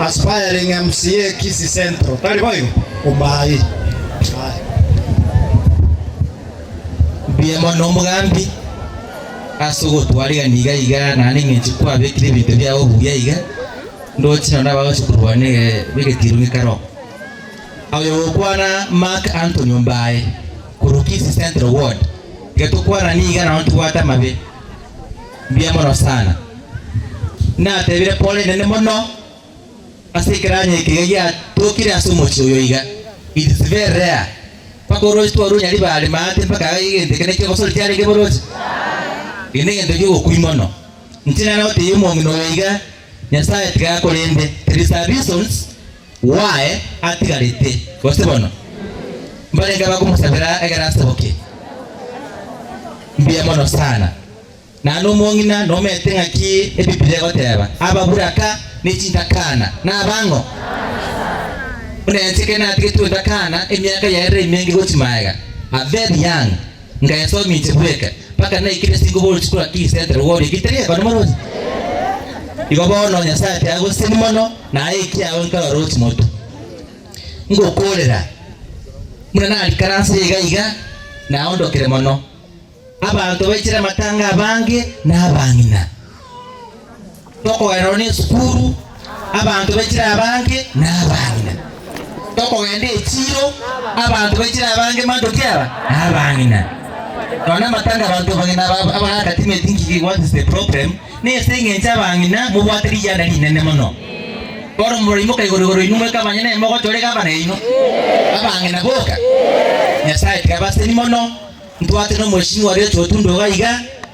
Aspiring MCA Kisii Central. Tari boigo? Omae. Mbuya mono omogambi ase ogotwarigani iga iga naende ng'enche kwabekire ebinto biao buya iga ndoche nonya abagochi korwa na egetiro gikare oo. Oyo gokwana Mark Anthony Ombaye korwa Kisii Central Ward. Getokwana niga nao ntibwate amabe. Mbuya mono sana. Natebire Paul enene mono ase ekeranyo eke iga giatokire ase omochie oyo iga. It is very rare. Mpaka oroche twarure Nyaribare maate mpaka iga egento eke nekio gose oritiarenge boroche? Eke negento gi'ogokui mono. Inche nare gotebia omong'ina oyo iga, Nyasaye tiga akorende, there is a reasons. Waye atigarete, gose bono mbarenge abakomosabera ekero aseboke. Mbuya mono sana. Naende omong'ina nomanyete ng'aki Ebibilia egoteba, Ababuraka ne chintakana nabang'o? Buna inche ekero natigetwe intakana emiaka yaerire emenge gochia magega, a very young, Nkaeswa ominche bweka, mpaka naikire chingubori chikura ki isentere gori egetari ekone morose. Igo bono Nyasae ati agoseseni mono, na aye ekiagera nkarora o chimoto. Ngokorera, buna narikaransire iga iga, naondokire mono. Abanto baichere amatanga abange na abang'ina. Tokogenda nonya esukuru, abanto baichire abange nabang'ina. Tokogenda echiro, abanto baichire abange manto ki aba? Nabang'ina. Nonya amatanga abanto abang'ina aba- abagati may think ki what is the problem, nase eng'encho abang'ina mobwate rigena rinene mono. Bono moraimoka igoro igoro inwe moika abang'ina nainwe mogocha ore gavana yaino? Abang'ina boka? Nyasae tiga abasemi mono, ntwate nomoishimi oria ochotunde iga iga,